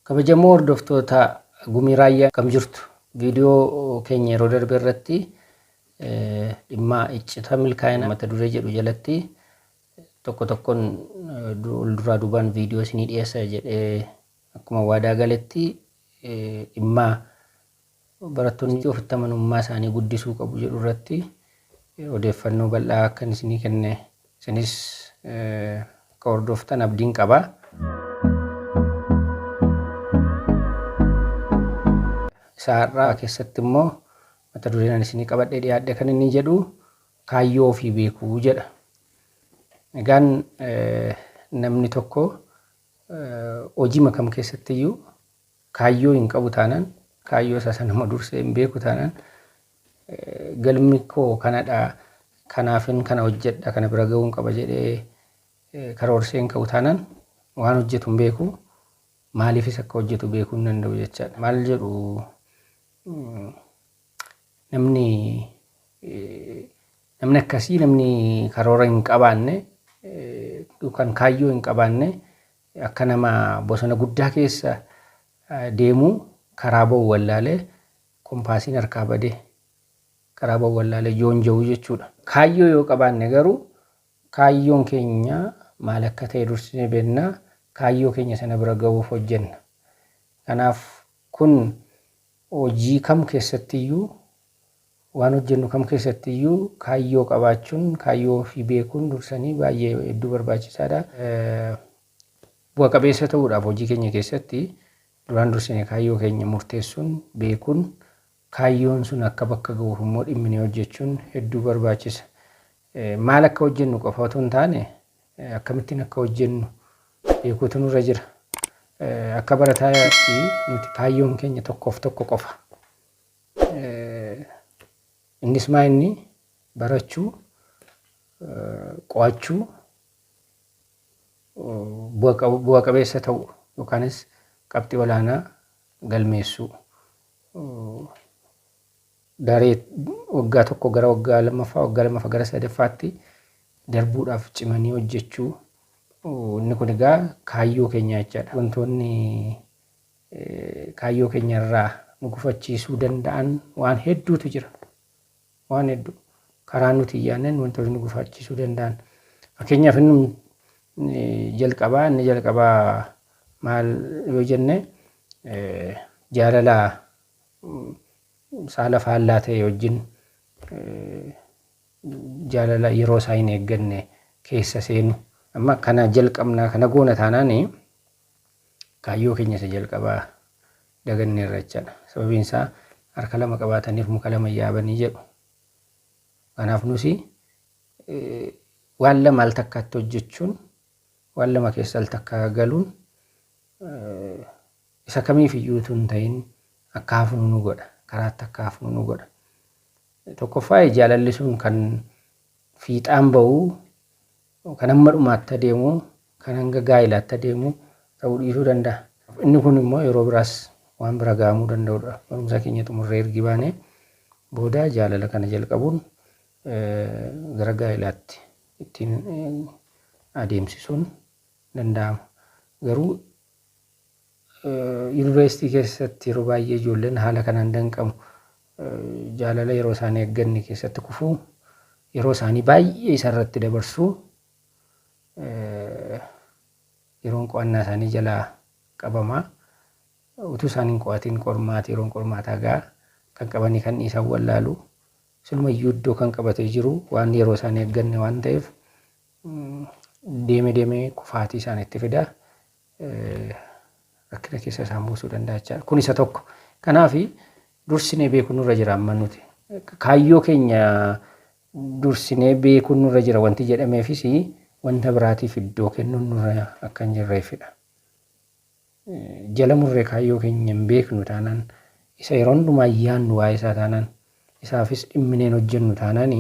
Kabajamoo hordoftoota Gumii Raayyaa akkam jirtu? Viidiyoo keenya yeroo darbe irratti eh, dhimma iccita milkaa'ina mata duree jedhu jalatti tokko tokkoon eh, du- ol duraa duubaan viidiyoo isinii dhiyeessa jedhee akkuma waadaa galetti eh, dhimma barattoonni ofitti amanummaa isaanii guddisuu qabu jedhu irratti odeeffannoo bal'aa akkan isinii kenne isinis akka hordoftan abdiin qaba. Isa har'aa keessatti immoo mata dureen ani isinii qabadhee dhiyaadhe kan inni jedhu kaayyoo ofii beekuu jedha. Egaan namni tokko hojiima kam keessatti iyyuu kaayyoo hin qabu taanaan kaayyoo isaa sanuma dursee hin beeku taanaan galmi koo kanadha kanaafin kana hojjedha kana bira ga'uun qaba jedhee karoorsee hin ka'u taanaan waan hojjetu hin beeku maaliifis akka hojjetu beekuu hin danda'u jechaadha. Maal jedhu namni namni akkasii namni karoora hin qabaanne yookaan kaayyoo hin qabaanne Akka nama bosona guddaa keessa deemuu karaa ba'u wallaalee kompaasiin harkaa badee karaa ba'u wallaalee joonja'uu jechuudha. Kaayyoo yoo qabaanne garuu kaayyoon keenya maal akka ta'e dursinee beekna, kaayyoo keenya sana bira ga'uuf hojjenna. Kanaaf kun Hojii kam keessattiyyuu, waan hojjennu kam keessattiyyuu kaayyoo qabaachuun, kaayyoo ofii beekuun dursanii baay'ee hedduu barbaachisaadha. Bu'a qabeessa ta'uudhaaf hojii keenya keessatti duraan dursine kaayyoo keenya murteessuun, beekuun, kaayyoon sun akka bakka ga'uuf immoo dhimminee hojjechuun hedduu barbaachisa. Maal akka hojjennu qofa otoo hin taane akkamittiin akka hojjennu beekuutu nurra jira. Akka barataatti nuti kaayyoon keenya tokkoof tokko qofa. Innis maa inni barachuu, qo'achuu, bu'a qabeessa ta'u yookaanis qabxii olaanaa galmeessuu. daree waggaa tokko gara waggaa lammaffaa, waggaa lammaffaa gara sadaffaatti darbuudhaaf cimanii hojjechuu inni kun egaa kaayyoo keenyaa jechaadha. Wantoonni kaayyoo keenya irraa nu gufachiisuu danda'an waan hedduutu jira. Waan hedduu karaa nuti hin yaadneen wantoonni nu gufachiisuu danda'an. Fakkeenyaaf inni jalqabaa inni jalqabaa maal yoo jenne jaalala saala faallaa ta'e wajjin jaalala yeroo isaa hin eegganne keessa seenu. Amma kana jalqabnaa kana goona taanaan kaayyoo keenya isa jalqabaa daganneerra jechaadha. Sababiin isaa harka lama qabaataniif muka lama hin yaabanii jedhu. Kanaaf nusi waan lama al takkaatti hojjechuun waan lama keessa al takkaa galuun Isa kamiif iyyuu utuu hin ta'in akka hafnu nu godha, karaatti akka hafnu nu godha. Tokkoffaa jaalalli sun kan fiixaan ba'u, kan hamma dhumaatti adeemu, kan hanga gaa'ilaatti adeemu ta'uu dhiisuu danda'a. Inni kun immoo yeroo biraas waan bira ga'amuu danda'u dha. Barumsa keenya xumurree ergi baanee booda jaalala kana jalqabuun gara gaa'ilaatti ittiin adeemsisuun danda'ama. Garuu Yuunivarsiitii keessatti yeroo baay'ee ijoolleen haala kanaan danqamu. Jaalala yeroo isaanii eegganne keessatti kufu. Yeroo isaanii baay'ee isa irratti dabarsu. Yeroon qo'annaa isaanii jalaa qabama. Utuu isaan hin qo'atiin qormaata yeroon qormaataa ga'a. Kan qabanii kan dhiisan wallaalu. Silumayyuu iddoo kan qabatee jiru waan yeroo isaanii eegganne waan ta'eef deeme deemee kufaatii isaanitti fida. Rakkina keessa isaan buusuu danda'a jechaadha. Kun isa tokko. Kanaaf dursinee beekuun nurra jira amma nuti. Kaayyoo keenya dursinee beekuun nurra jira wanti jedhameefis wanta biraatiif iddoo kennuun nurra akka hin jirreefidha. jala murree kaayyoo keenya hin beeknu taanaan, isa yeroo hundumaa yaadnu waa'ee isaa taanaan, isaafis dhimminee hin hojjennu taanaan,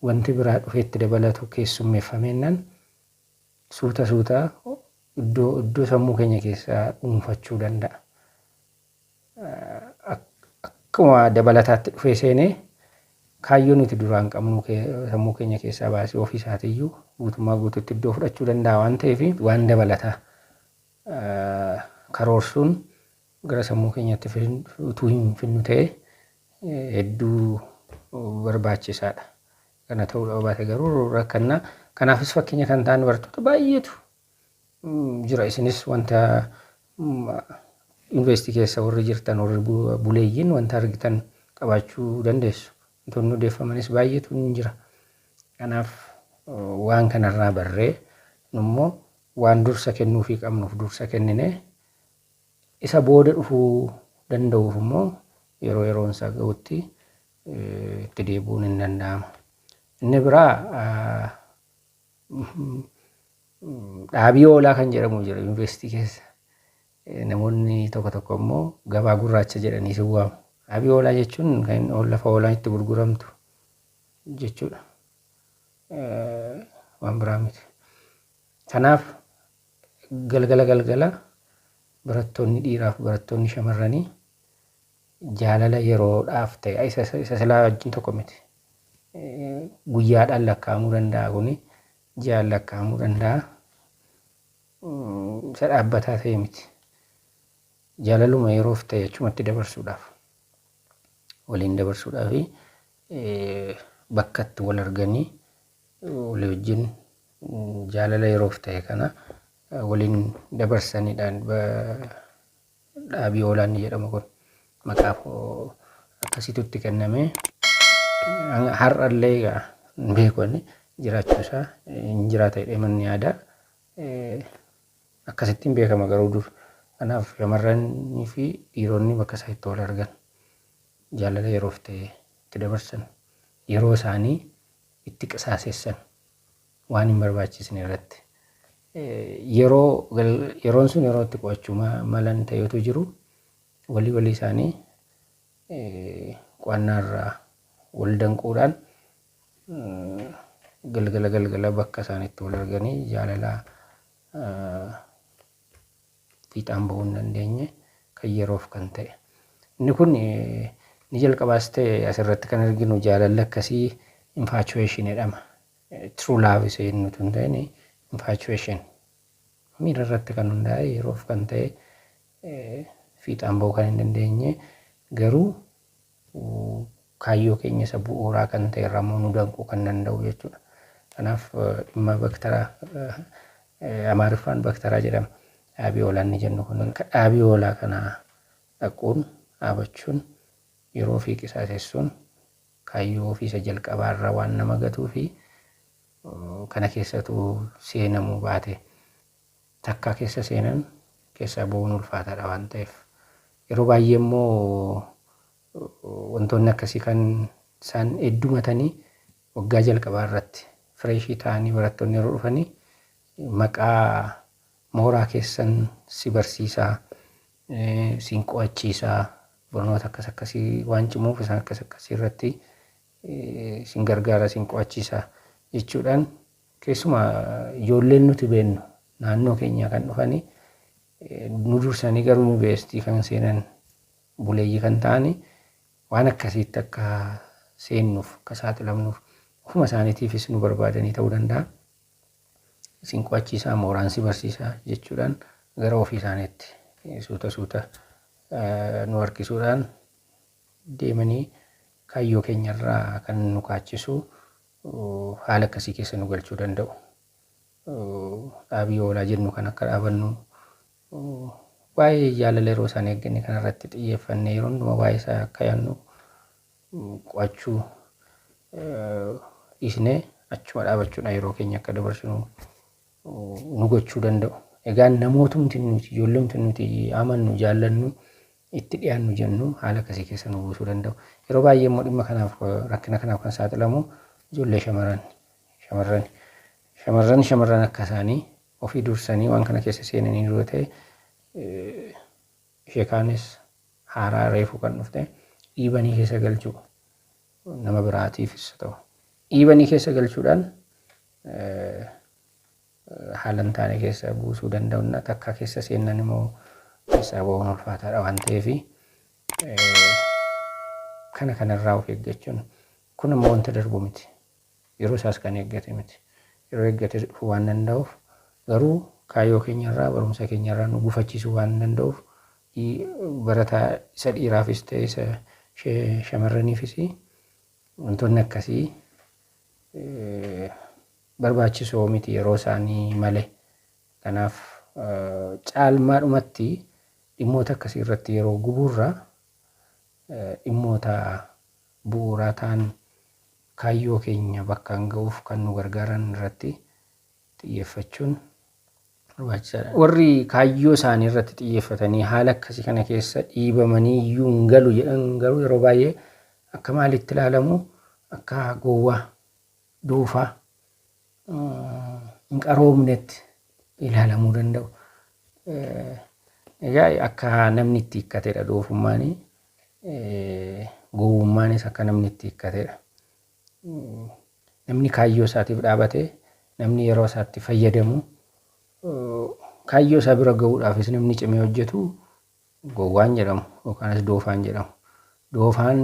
wanti biraa dhufee itti dabalatu keessummeeffameennaan suuta suuta iddoo iddoo sammuu keenya keessaa dhuunfachuu danda'a. Akkuma dabalataatti dhufee seenee kaayyoo nuti duraan qabnu sammuu keenya keessaa baasee ofii isaatiiyyuu guutummaa guutuutti iddoo fudhachuu danda'a waan ta'eef waan dabalataa karoorsuun gara sammuu keenyaatti utuu hin finnu ta'e hedduu barbaachisaadha. Kana ta'uu dhaba baate garuu rakkanna. Kanaafis fakkeenya kan ta'an bartoota baay'eetu jira. Isinis wanta yuunivarsiitii keessa warri jirtan warri buleeyyiin wanta argitan qabaachuu dandeessu. Wantoonni odeeffamanis baay'eetu hin jira. Kanaaf waan kanarraa barree nummoo waan dursa kennuufii qabnuuf dursa kenninee isa booda dhufuu danda'uuf immoo yeroo yeroon isaa ga'utti itti deebi'uun hin danda'ama. Inni biraa dhaabii oolaa kan jedhamu jira yuunivarsiitii keessa. Namoonni tokko tokko immoo gabaa gurraacha jedhanii si waamu. Dhaabii oolaa jechuun kan lafa oolaan itti gurguramtu jechuudha. Waan biraa miti. Kanaaf galgala galgala barattoonni dhiiraaf barattoonni shamarranii jaalala yeroodhaaf ta'e isa isa- isa silaa wajjin tokko miti. Eh, Guyyaadhaan lakkaa'amuu danda'a kuni ji'aan lakkaa'amuu danda'a. Mm, Isa dhaabbataa ta'e miti. Jaalaluma yeroof ta'e achumatti dabarsuudhaaf waliin dabarsuudhaaf eh, bakka itti wal arganii walii wajjin jaalala yeroof ta'e kana waliin dabarsanidhaan dhaabii oolaan ni jedhama kun maqaaf akkasitutti kenname har'allee egaa hin beeku inni jiraachuu isaa hin jiraata jedhee manni yaada akkasittiin beekama garuu dur kanaaf shamarranii fi dhiironni bakka isaa itti wal argan jaalala yeroof ta'e itti dabarsan yeroo isaanii itti qisaasessan waan hin barbaachisne irratti yeroo yeroon sun yeroo itti qo'achuu malan ta'etu jiru walii walii isaanii qo'annaa irraa wal danquudhaan galgala galgala bakka isaan itti wal arganii jaalalaa fiixaan bahuu hin dandeenye kan yeroof kan ta'e. Inni kun ni jalqabaas ta'e asirratti kan arginu jaalalli akkasii infatuation jedhama. True love isa jennu utuu hin ta'in infatuation miira irratti kan hundaa'e yeroof kan ta'e fiixaan bahuu kan hin dandeenye garuu kaayyoo keenya isa bu'uuraa kan ta'e irraa immoo nu danquu kan danda'u jechuudha. Kanaaf dhimma baktaraa Amaariffaan baktaraa jedhama. Dhaabii oolaa inni jennu kun dhaabii oolaa kana dhaquun dhaabachuun yeroo ofii qisaasessuun kaayyoo ofii isa jalqabaa irraa waan nama gatuu fi kana keessatu seenamuu baate takkaa keessa seenan keessaa ba'uun ulfaataadha waan ta'eef yeroo baay'ee immoo wantoonni akkasii kan isaan heddumatanii waggaa jalqabaa irratti fireeshii ta'anii barattoonni yeroo dhufanii maqaa mooraa keessan si barsiisaa siin qo'achiisaa barnoota akkas akkasii waan cimuuf isaan akkas akkasii irratti siin gargaara siin qo'achiisaa jechuudhaan Keessumaa ijoolleen nuti beennu naannoo keenyaa kan dhufani nu dursanii garuu yuunivarsiitii kan seenan buleeyyii kan ta'ani waan akkasiitti akka seennuuf akka saaxilamnuuf ofuma isaaniitiifis nu barbaadanii ta'uu danda'a. Isin qo'achiisaa mooraan si barsiisaa jechuudhaan gara ofii isaaniitti suuta suuta nu harkisuudhaan deemanii kaayyoo keenyarraa kan nu kaachisu haala akkasii keessa nu galchuu danda'u. Dhaabii oolaa jennu kan akka dhaabannu waa'ee jaalala yeroo isaan eegganne kanarratti xiyyeeffannee yeroo hundumaa waa'ee isaa akka yaannu qo'achuu dhiisnee achuma dhaabachuudhaan yeroo keenya akka dabarsinu nu gochuu danda'u. Egaa namootumti nuti ijoollumti nuti amannu jaallannu itti dhiyaannu jennu haala akkasii keessa nu buusuu danda'u. Yeroo baay'ee immoo dhimma kanaaf rakkina kanaaf kan saaxilamu ijoollee shamarran shamarran shamarran shamarran akka isaanii ofii dursanii waan kana keessa seenanii yoo ta'e ishee kaanis haaraa reefuu kan dhufte dhiibanii keessa galchuu nama biraatiifis ta'u dhiibanii keessa galchuudhaan haala hin taane keessa buusuu danda'unna takkaa keessa seennan immoo keessaa ba'uun ulfaataadha waan ta'eef kana kanarraa of eeggachuun kun ammoo wanta darbu miti yeroo isaas kan eeggate miti yeroo eeggate dhufuu waan danda'uuf garuu kaayyoo keenyarraa barumsa keenyarraa nu gufachiisuu waan danda'uuf barataa isa dhiiraafis ta'e isa shamarraniifis wantoonni akkasii barbaachisoo miti yeroo isaanii male. Kanaaf caalmaadhumatti dhimmoota akkasii irratti yeroo gubuurra dhimmoota bu'uuraa ta'an kaayyoo keenya bakkaan ga'uuf kan nu gargaaran irratti xiyyeeffachuun barbaachisaadha. Warri kaayyoo isaanii irratti xiyyeeffatanii haala akkasii kana keessa dhiibamanii iyyuu hin galu jedhan garuu yeroo baay'ee akka maaliitti ilaalamu? Akka gowwaa. dhuufa hin qaroomnetti ilaalamuu danda'u. Egaa akka namni itti hiikkatedha doofummaanii. Gowwummaanis akka namni itti hiikkatedha. Namni kaayyoo isaatiif dhaabate, namni yeroo isaatti fayyadamu, kaayyoo isaa bira gahuudhaafis namni cimee hojjetu Gowwaan jedhamu yookaanis doofaan jedhamu. Doofaan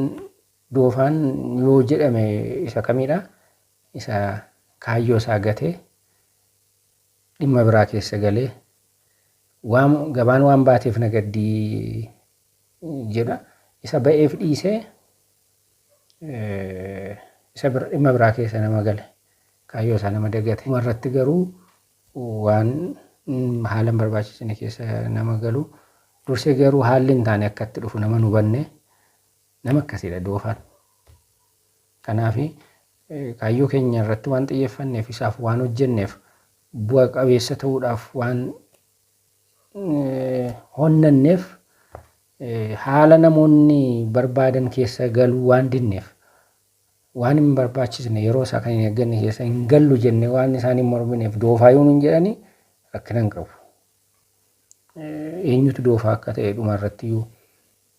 doofaan yoo jedhame isa kamidha? Isa kaayyoo isaa gatee dhimma biraa keessa galee waan gabaan waan baateef na gaddii jedha. Isa ba'eef dhiisee isa dhimma biraa keessa nama gale kaayyoo isaa nama dagate. Dhumarratti garuu waan haala hin barbaachisne keessa nama galu dursee garuu haalli hin taane akka itti dhufu nama hin hubanne nama akkasiidha doofaan. Kanaaf kaayyoo keenya irratti waan xiyyeeffanneef isaaf waan hojjenneef bu'a qabeessa ta'uudhaaf waan honnanneef haala namoonni barbaadan keessa galuu waan dinneef waan hin barbaachisne yeroo isaa kan hin eegganne keessa hin gallu jennee waan isaan hin mormineef doofaa yoo nuun jedhanii rakkina hin qabu. Eenyutu doofaa akka ta'e dhuma irratti iyyuu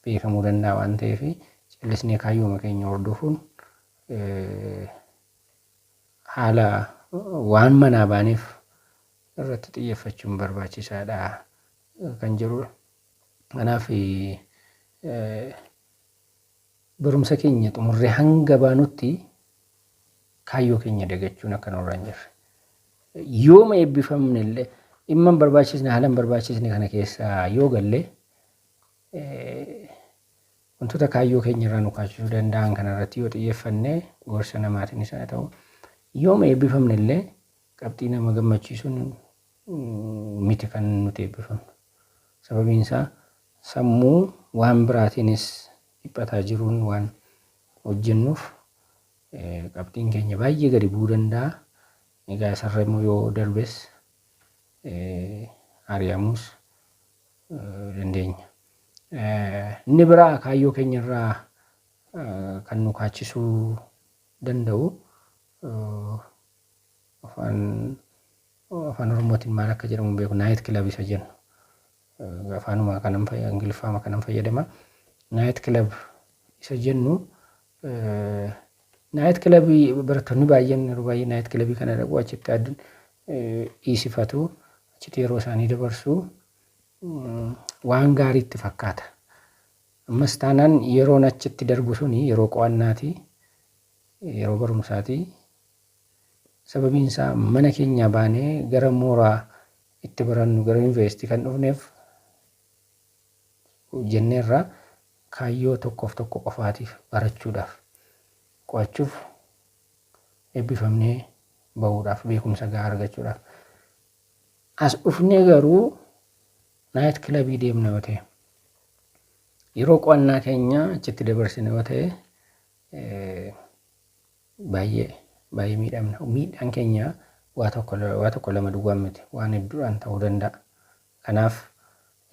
beekamuu danda'a waan ta'eef callisnee kaayyooma keenya hordofuun haala waan manaa baaneef irratti xiyyeeffachuun barbaachisaadha kan jedhudha. Kanaaf Barumsa keenya xumurree hanga baanutti kaayyoo keenya dagachuun akka nurra hin jirre. Yooma eebbifamne illee dhimma hin barbaachisne haala hin barbaachisne kana keessa yoo galle wantoota kaayyoo keenya irraa nu kaachisuu danda'an kana irratti yoo xiyyeeffanne gorsa namaatiinis haa ta'u yooma eebbifamne illee qabxii nama gammachiisuun miti kan nuti eebbifamnu. Sababiin isaa sammuu waan biraatiinis dhiphataa jiruun waan hojjennuuf qabxiin keenya baay'ee gadi bu'uu danda'a. Egaa isarra immoo yoo darbes ari'amuus dandeenya. Inni biraa kaayyoo keenyarraa kan nu kaachisuu danda'u afaan Afaan Oromootiin maal akka jedhamu hin beeku. Night club isa jennu. Afaanuma kanan fayyadama, Ingiliffaama kanan fayyadama. Night club isa jennu naayit kilabii barattoonni baay'een yeroo baay'ee naayit kilabii kana dhaqu achitti addan dhiisifatu achitti yeroo isaanii dabarsu waan gaarii itti fakkaata. Ammas taanaan yeroon achitti darbu suni yeroo qo'annaati yeroo barumsaati Sababiin isaa mana keenyaa baanee gara mooraa itti barannu gara yuniversitii kan dhufneef jenneerra kaayyoo tokkoof tokko qofaatiif barachuudhaaf qo'achuuf eebbifamnee ba'uudhaaf beekumsa gahaa argachuudhaaf. As dhufnee garuu naayit kilabii deemna yoo ta'e yeroo qo'annaa keenya achitti dabarsine yoo ta'e Baay'ee baay'ee miidhamna. Miidhaan keenya waa tokko waa tokko lama duwwaan miti. Waan hedduudhaan ta'uu danda'a. Kanaaf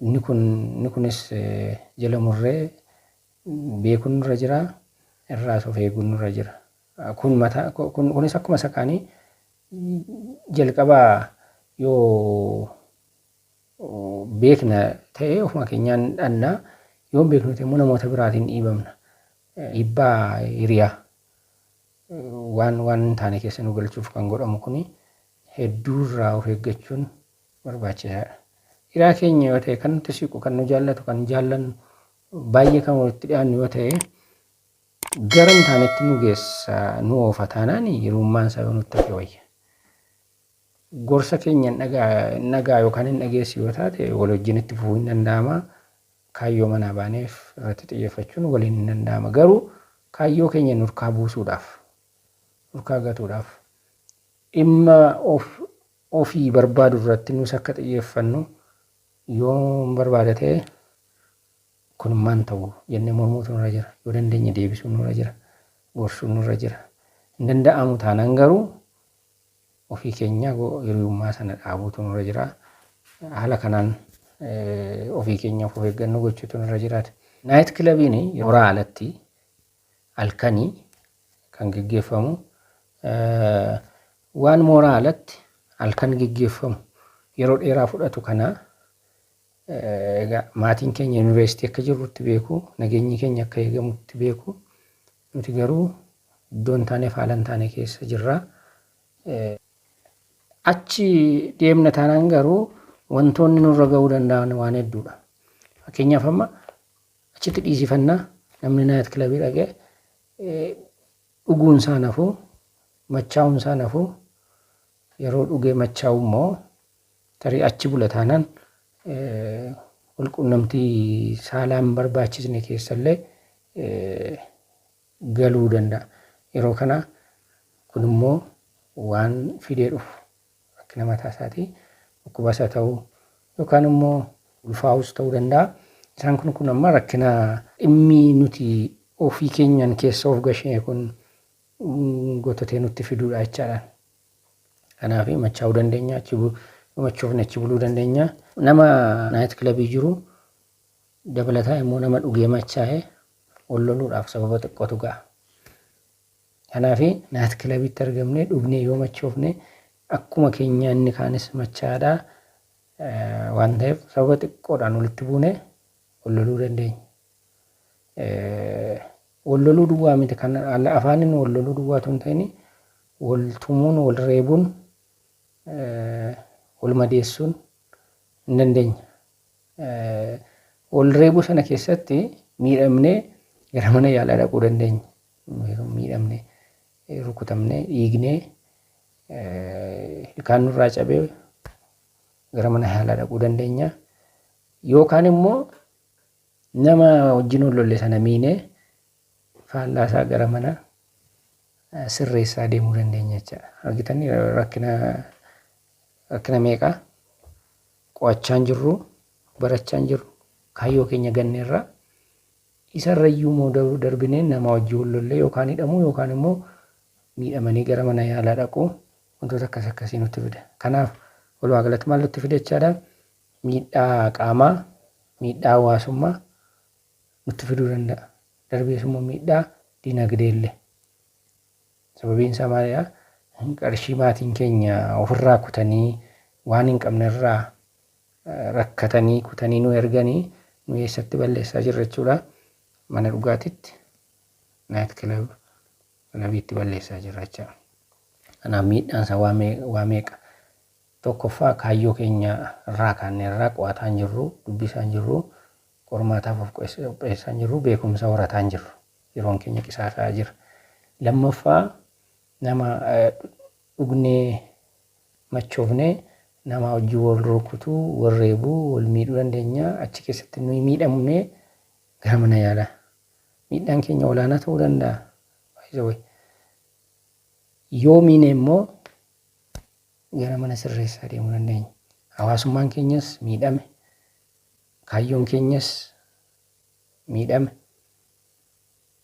inni kun inni kunis jala murree beekuun nurra jira. Irraas of eeguun nurra jira. Kun mataa kun kunis akkuma isa kaanii jalqabaa yoo beekna ta'e ofuma keenyaan dhannaa yoo beeknu ta'e immoo namoota biraatiin dhiibamna. Dhiibbaa hiriyaa waan waan hin taane keessa nu galchuuf kan godhamu kuni hedduu irraa of eeggachuun barbaachisaadha. Hiraa keenya yoo ta'e kan nutti siqu, kan nu jaallatu, kan jaallannu, baay'ee kan walitti dhiyaannu yoo ta'e gara hin taanetti nu geessa nu oofa taanaan hiriyummaan isaa yoo nutti hafe wayya. Gorsa keenya hin dhagaa hin dhagaa yookaan hin dhageessu yoo taate wal wajjin itti fufuu hin danda'ama. Kaayyoo manaa baaneef irratti xiyyeeffachuun waliin hin danda'ama. Garuu kaayyoo keenya nurkaa buusuudhaaf, nurkaa gatuudhaaf, dhimma of ofii barbaadu irratti nus akka xiyyeeffannu yoon barbaada ta'e kun maan ta'u jennee mormuutu nurra jira. Yoo dandeenye deebisuun nurra jira. Gorsuun nurra jira. Hin danda'amu taanaan garuu ofii keenyaa hiriyummaa sana dhaabuutu nurra jira. Haala kanaan ofii keenyaaf of eeggannoo gochuutu nurra jiraata. Naayit kilabiin mooraa alatti halkanii kan geggeeffamu waan mooraa alatti halkan geggeeffamu yeroo dheeraa fudhatu kana egaa maatiin keenya yuunivarsiitii akka jirrutti beeku nageenyi keenya akka eegamutti beeku Nuti garuu iddoo hin taaneef haala hin taane keessa jirra. Achi deemna taanaan garuu wantoonni nurra ga'uu danda'an waan hedduudha. Fakkeenyaaf amma achitti dhiisifannaa namni naayit kilabii dhaqee dhuguun isaa nafuu machaa'uun isaa nafuu yeroo dhugee machaa'u immoo Tarii achi bula taanaan walqunnamtii saalaa hin barbaachisne keessallee galuu danda'a. Yeroo kana kun immoo waan fidee dhufu rakkina mataa isaatii dhukkubas haa ta'u yookaan immoo ulfaa'us ta'uu danda'a. Isaan kun kun amma rakkina dhimmi nuti ofii keenyaan keessa of gashine kun gotatee nutti fiduudha jechaadha. Kanaaf machaa'uu dandeenya, achi bu- yoo machoofne achi buluu dandeenya. Nama naayit kilabii jiru dabalataa immoo nama dhugee machaa'e ol loluudhaaf sababa xiqqootu ga'a. Kanaaf naayit kilabiitti argamnee dhugnee yoo machoofne akkuma keenya inni kaanis machaa'aadha. Eh, Waan ta'eef sababa xiqqoodhaan walitti buune ol loluu dandeenya. Eh, Wal loluu duwwaa miti kan afaaniin wal loluu duwwaa utuu hin ta'in wal tumuun, wal reebuun, wal madeessuun hin dandeenya. Wal reebuu sana keessatti miidhamnee gara mana yaalaa dhaquu dandeenya. Miidhamnee, rukutamnee, dhiignee, ilkaan nurraa cabee gara mana yaalaa dhaquu dandeenya. Yookaan immoo Nama wajjin wal lolle sana miinee faallaa isaa gara mana sirreessaa deemuu dandeenya jechaadha. Argitan rakkina rakkina meeqaa qo'achaan jirru barachaan jirru kaayyoo keenya ganne irraa isarra iyyuu immoo darbinee nama wajjin wal lollee yookaan hidhamuu yookaan immoo miidhamanii gara mana yaalaa dhaquu wantoota akkas akkasii nutti fida. Kanaaf walumaa galatti maal nutti fida jechaadha? Miidhaa qaamaa, miidhaa hawaasummaa nutti fiduu danda'a. Darbees immoo miidhaa dinagdee illee. Sababiin isaa maalidha? Qarshii maatiin keenya ofirraa kutanii waan hin qabne irraa rakkatanii kutanii nu erganii nu eessatti balleessaa jirra jechuudha. Mana dhugaatitti, naayit kilab, kilabiitti balleessaa jirra jechuudha. Kanaaf miidhaan isaa waa meeqa? Tokkoffaa kaayyoo keenya irraa kaannee irraa qo'ataa hin jirru, dubbisaa hin jirru, qormaataaf of qopheessaa hin jirru, beekumsa horataa hin jirru. Yeroon keenya qisaasaa'aa jira. Lammaffaa nama dhugnee machoofnee namaa wajjin wal rukutuu, wal reebuu, wal miidhuu dandeenya. Achi keessatti nuyi miidhamnee gara mana yaalaa. Miidhaan keenya olaanaa ta'uu danda'a. By the way. Yoo miine immoo gara mana sirreessaa deemuu dandeenya. Hawaasummaan keenyas miidhame, kaayyoon keenyas miidhame,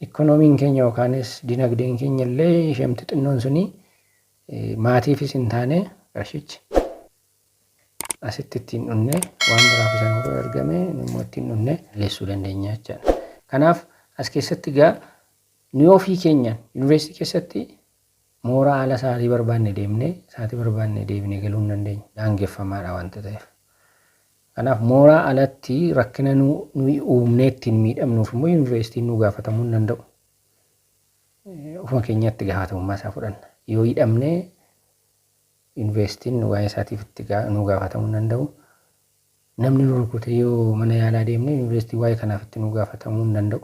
ikkonoomiin keenya yookaanis dinagdeen keenya illee ishemti xinnoon suni maatiifis hin taane qarshichi asitti ittiin dhunne waan biraaf isa nu bira ergame immoo ittiin dhunne leessuu dandeenya jechaadha. Kanaaf as keessatti egaa nuyi ofii keenyaan yuunivarsiitii keessatti Mooraa ala sa'aatii barbaanne deemnee, sa'aatii barbaanne deebinee galuu hin dandeenyu. Daangeffamaadha wanta ta'eef. Kanaaf mooraa alatti rakkina nu, nuyi uumnee ittiin miidhamnuuf immoo yuunivarsiitiin nu gaafatamuu hin danda'u. Eh, Ofuma keenyaa itti gaafatamummaa isaa fudhanna. Yoo hidhamne yuunivarsiitiin waa'ee isaatiif itti gaa- nu gaafatamuu hin danda'u. Namni nu rukute yoo mana yaalaa deemne yuunivarsiitiin waa'ee kanaaf itti nu gaafatamuu hin danda'u.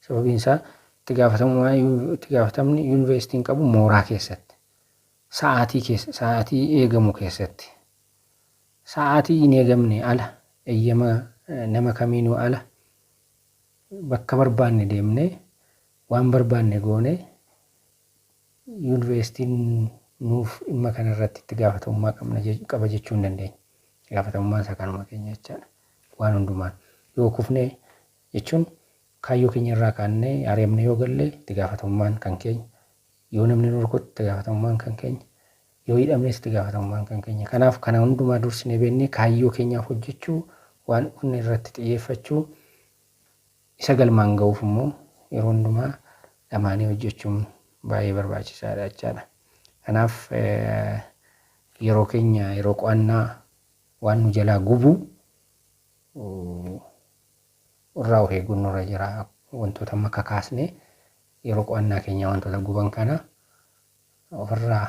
Sababiin isaa itti gaafatamummaa itti gaafatamni yuunivarsiitiin qabu mooraa keessatti sa'aatii keessa sa'aatii eegamu keessatti sa'aatii hin eegamne ala eeyyama nama kamiinuu ala bakka barbaanne deemne waan barbaanne goone yuunivarsiitiin nuuf dhimma kana irratti itti gaafatamummaa qabna qaba jechuu hin dandeenye. Gaafatamummaan isaa kanuma keenya jechaadha. Waan hundumaan yoo kufne jechuun kaayyoo keenya irraa kaannee ari'amne yoo galle itti gaafatamummaan kan keenya yoo namni nu rukutte itti gaafatamummaan kan keenya yoo hidhamnes itti gaafatamummaan kan keenya kanaaf kana hundumaa dursinee beennee kaayyoo keenyaaf hojjechuu waan dhufne irratti xiyyeeffachuu isa galmaan ga'uuf immoo yeroo hundumaa dhamaanii hojjechuun baay'ee barbaachisaadha jechaadha. Kanaaf yeroo keenya yeroo qo'annaa waan nu jalaa gubu irraa of eeguun nurra jira. Wantoota amma kakaasne yeroo qo'annaa keenyaa wantoota guban kana ofirraa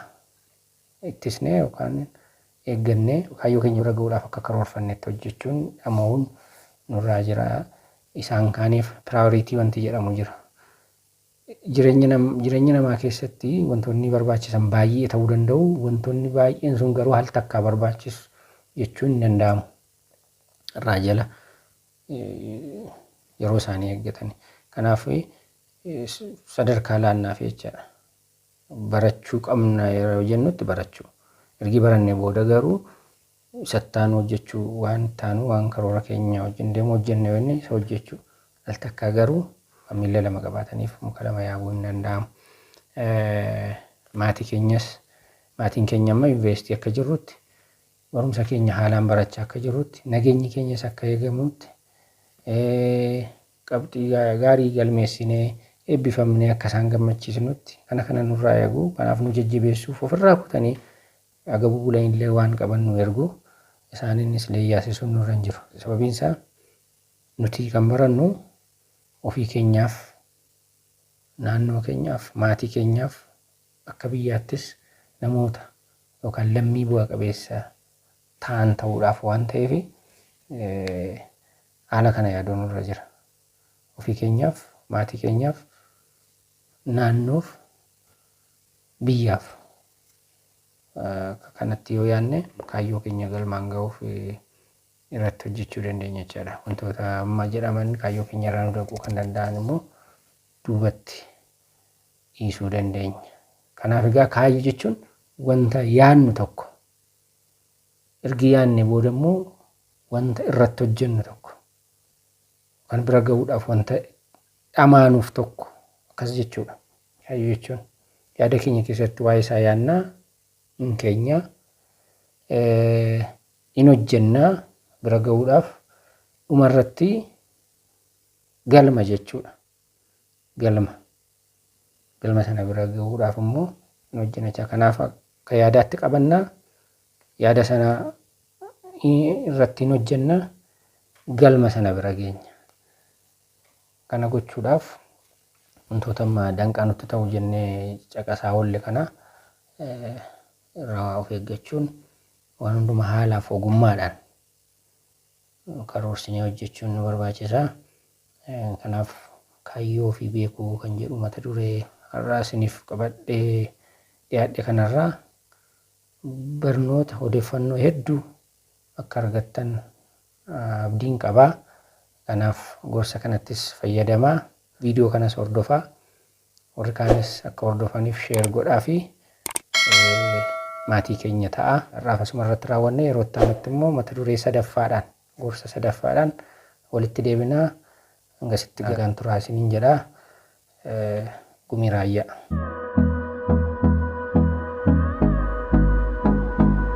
ittisnee yookaan eeggannee kaayyoo keenya bira ga'uudhaaf akka karoorfannetti hojjechuun dhama'uun nurraa jira. Isaan kaaniif piraayoriitii wanti jedhamu jira. Jireenya nam- jireenya namaa keessatti wantoonni barbaachisan baay'ee ta'uu danda'u. Wantoonni baay'een sun garuu al takkaa barbaachisu jechuun hin danda'amu. irraa jala yeroo isaanii eeggatani. Kanaaf sadarkaa laannaaf jechaadha. Barachuu qabna yeroo jennutti barachuu. Ergi barannee booda garuu sattaan hojjechuu waan taanu waan karoora keenya wajjin deemu hojjenne yoo inni isa hojjechuu. Al takkaa garuu miila lama qabaataniif muka lama yaabuu hin danda'amu. Maatii keenyas maatiin keenya amma yuunivarsiitii akka jirrutti Barumsa keenya haalaan barachaa akka jirrutti, nageenyi keenyas akka eegamutti, qabxii gaarii galmeessinee eebbifamnee akka isaan gammachiisnutti kana kana nurraa eegu. Kanaaf nu jajjabeessuuf ofirraa kutanii agabuu bulanillee waan qaban nu ergu. Isaaniinis leeyyaasisuun nurra hin jiru. Sababiin isaa nuti kan barannu ofii keenyaaf, naannoo keenyaaf, maatii keenyaaf, Akka biyyaattis namoota yookaan lammii bu'a qabeessa ta'an ta'uudhaaf waan ta'eef haala kana yaaduu nurra jira. Ofii keenyaaf, maatii keenyaaf, naannoof, biyyaaf akka kanatti yoo yaadne kaayyoo keenya galmaan ga'uuf irratti hojjechuu dandeenya jechaadha. Wantoota amma jedhaman kaayyoo keenya irraa nu dhaquu kan danda'an immoo duubatti dhiisuu dandeenya. Kanaaf egaa kaayyoo jechuun wanta yaannu tokko ergi yaanne booda immoo wanta irratti hojjennu tokko kan bira ga'uudhaaf wanta dhamaanuuf tokko akkas jechuudha. Kaayyoo jechuun yaada keenya keessatti waa'ee isaa yaannaa hin keenya hin hojjennaa bira ga'uudhaaf dhumarratti galma jechuudha. galma galma sana bira gahuudhaaf immoo hin hojjenachaa kanaaf akka yaadaatti qabannaa yaada sana irratti hin hojjenna galma sana bira geenya kana gochuudhaaf wantoota amma danqaa nutti ta'u jennee caqasaa oolle kana eh, irraa of eeggachuun waan hundumaa haalaaf ogummaadhaan karoorsinee hojjechuun nu barbaachisa. Kanaaf kaayyoo ofii beekuu kan jedhu mata duree har'aa isiniif qabadhee dhiyaadhe kanarraa barnoota odeeffannoo hedduu akka argattan abdiin qaba. Kanaaf gorsa kanattis fayyadamaa. Viidiyoo kanas hordofaa. Warri kaanis akka hordofaniif share godhaafi maatii keenya ta'a. Har'aaf asuma irratti raawwanna. Yeroo itti aanutti immoo mata duree sadaffaadhaan, gorsa sadaffaadhaan walitti deebina. Hangasitti nagaan turaa isiniin jedha. Gumii Raayyaa.